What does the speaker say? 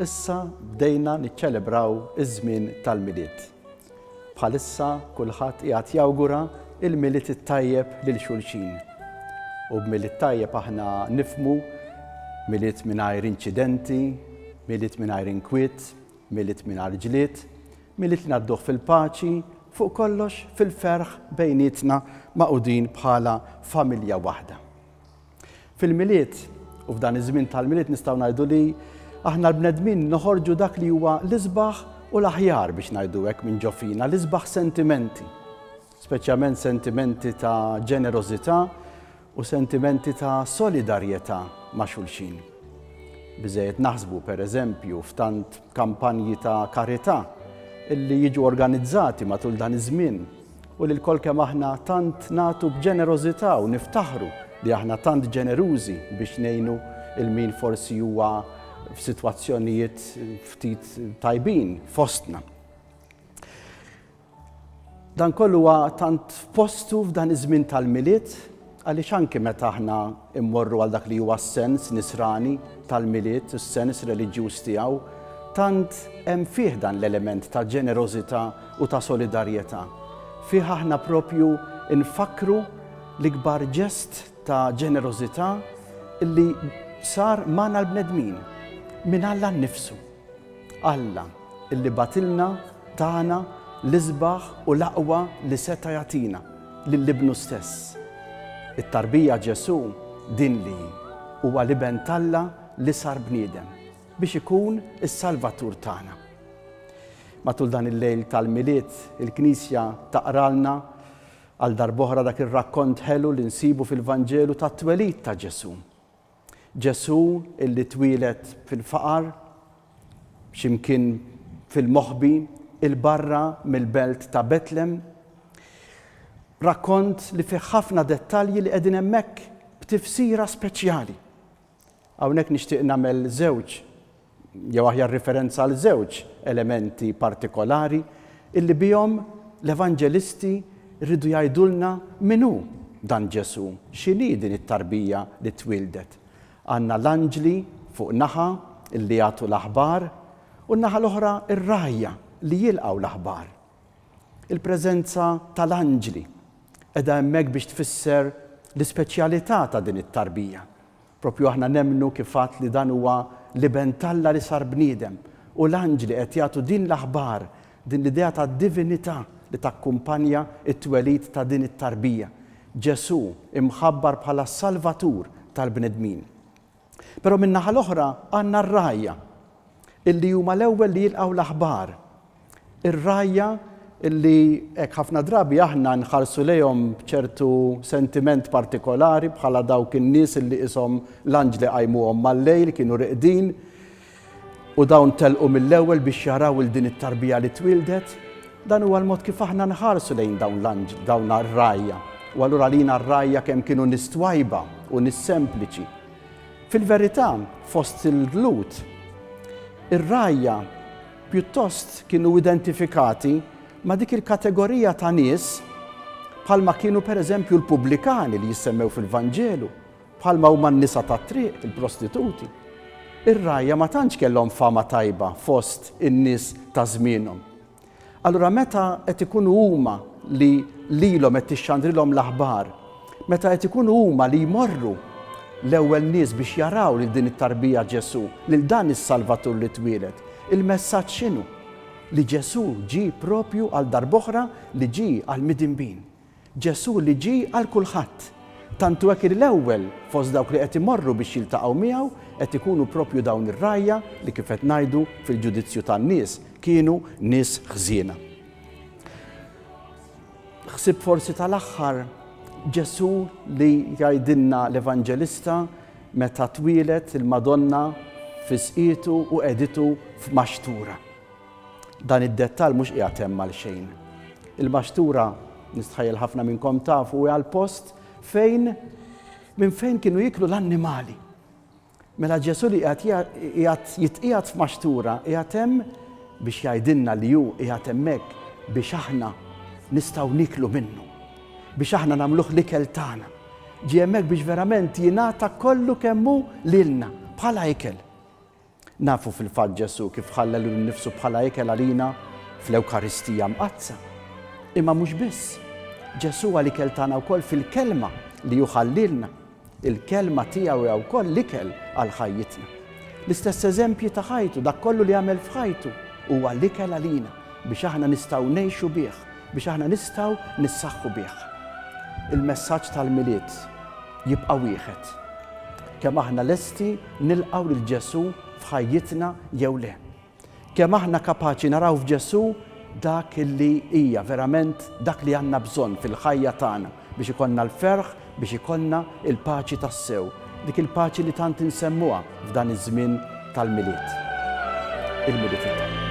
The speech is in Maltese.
Issa bdejna niċċelebraw iż-żmien tal-Milied. Bħalissa kulħadd qiegħed jawgura l-Milied it-tajjeb lil xulxin. U b'Milied tajjeb aħna nifhmu Milied mingħajr inċidenti, Milied mingħajr inkwiet, Milied mingħajr ġlied, Milied li ngħadduh fil-paċi, fuq kollox fil-ferħ bejnietna magħqudin bħala familja waħda. Fil-Milied, u f'dan iż-żmien tal-Milied nistgħu ngħidu li aħna l-bnedmin noħorġu dak li huwa l-isbaħ u l-aħjar biex ngħidu hekk minn ġo fina, l-isbaħ sentimenti, speċjalment sentimenti ta' ġenerożità u sentimenti ta' solidarjetà ma' xulxin. Biżejjed naħsbu pereżempju f'tant kampanji ta' karità illi jiġu organizzati matul dan iż-żmien u li lkoll kemm aħna tant nagħtu b'ġenerożità u niftaħru li aħna tant ġenerużi biex ngħinu il min forsi huwa f'sitwazzjonijiet ftit tajbin fostna. Dan kollu huwa tant f'postu f'dan iż-żmien tal-milied Għaliex anki meta aħna mmorru għal dak li huwa s-sens nisrani tal-Milied u s-sens reliġjuż tiegħu, tant hemm fih dan l-element ta' ġenerożità u ta' solidarjetà. Fih aħna proprju nfakkru l-ikbar ġest ta' ġenerożità li sar magħna l-bnedmin, minn Alla nnifsu. Alla, illi bagħtilna, tana, l-isbaħ u l-aqwa li seta' jagħtina, lil Ibnu stess. It-tarbija Ġesù din li hi, huwa l-Iben t'Alla li sar bniedem, biex ikun is-Salvatur tagħna. Matul dan il-lejl tal-Milied, il-Knisja taqralna għal darb'oħra dak ir-rakkont ħelu li nsibu fil-Vanġelu tat-twelid ta' Ġesù. Ġesù illi twieled fil-faqar, xi mkien fil-moħbi, 'il barra mill-belt ta' Betlem. Rakkont li fih ħafna dettalji li qegħdin hemmhekk b'tifsira speċjali. Hawnhekk nixtieq nagħmel żewġ jew aħjar riferenza għal żewġ elementi partikolari illi bihom l-Evanġelisti rridu jgħidulna min hu dan Ġesù, x'inhi din it-tarbija li twieldet. Għandna l-anġli fuq naħa illi jagħtu l-aħbar u n-naħa l-oħra r-rgħajja li jilqgħu l-aħbar. Il-preżenza tal-anġli qiegħda hemmhekk biex tfisser l-ispeċjalità ta' din it-tarbija Proprju aħna nemmnu, kif għadt, li dan huwa l-Iben t'Alla li sar bniedem. U l-anġli qed jagħtu din l-aħbar, din l-idea ta' divinità li takkumpanja t-twelid ta' din it-tarbija. Ġesù imħabbar bħala s-Salvatur tal-bnedmin. Però min-naħa l-oħra għandna r-rgħajja, illi huma l-ewwel li jilqgħu l-aħbar. Ir-rgħajja li hekk ħafna drabi aħna nħarsu lejhom b'ċertu sentiment partikolari bħala dawk in-nies li qishom l-anġli qajmuhom mal-lejl kienu riqdin u dawn telqu mill-ewwel biex jaraw il din it-tarbija li twieldet, dan huwa l-mod kif aħna nħarsu lejn dawn l-anġli, dawn r-rgħajja. U allura lina r-rgħajja kemm kienu nies twajba u nies sempliċi. Fil-verità, fost il-dlut, ir-rgħajja Pjuttost kienu identifikati ma' dik il-kategorija ta' nies bħalma kienu pereżempju l-pubblikani li jissemmew fil-Vanġelu, bħalma huma n-nisa tat-triq, il-prostituti. Ir-rgħajja ma tantx kellhom fama tajba fost in-nies ta' żmienhom. Allura meta qed ikunu huma li lilhom qed tixxandrilhom l-aħbar Meta qed ikunu huma li jmorru, l-ewwel nies biex jaraw lil din it-tarbija Ġesù, lil dan is-Salvatur li twieled, il-messaġġ x'inhu? Li Ġesù ġie proprju għal darb'oħra li ġie għall-midinbin. Ġesù li ġie għal kulħadd. Tant hu hekk li l-ewwel fost dawk li qed imorru biex jiltaqgħu miegħu qed ikunu proprju dawn ir-rgħajja li kif qed ngħidu fil-ġudizzju tan-nies kienu nies ħżiena. Ħsieb forsi tal-aħħar, Ġesù li jgħidilna l-Evanġelista meta twieled il-Madonna f'isqietu u qegħditu f'maxtura. Dan id-dettall mhux qiegħed hemm għalxejn. Il-maxtura nistħajjel ħafna minnkom tafu għal post fejn minn fejn kienu jiklu l-annimali. Mela Ġesù li qiegħed jitqiegħed f'maxtura qiegħed hemm biex jgħidilna li hu qiegħed hemmhekk biex aħna nistgħu nieklu minnu, biex aħna nagħmluh l-ikel tagħna. Ġie hemmhekk biex verament jingħata kollu kemm hu lilna bħala ikel. Nafu fil-fatt Ġesù kif ħalla lilu nnifsu bħala ikel għalina fl-Ewkaristija Mqaddsa. Imma mhux biss, Ġesù huwa l-ikel tagħna wkoll fil-kelma li hu ħallilna. Il-Kelma tiegħu hija wkoll l-ikel għal ħajjitna. L-istess eżempji ta' ħajtu, dak kollu li għamel f'ħajtu, huwa l-ikel għalina biex aħna nistgħu ngħixu bih, biex aħna nistgħu nissaħħu bih. Il-messaġġ tal-Milied jibqa' wieħed, kemm aħna lesti nilqgħu lil Ġesù f'ħajjitna jew le. Kemm aħna kapaċi naraw f'Ġesù dak li hija verament dak li għandna bżonn fil-ħajja tagħna biex ikollna l-ferħ, biex ikollna l-paċi tassew, dik il-paċi li tant insemmuha f'dan iż-żmien tal-Milied, il-Milied it-Tajjeb.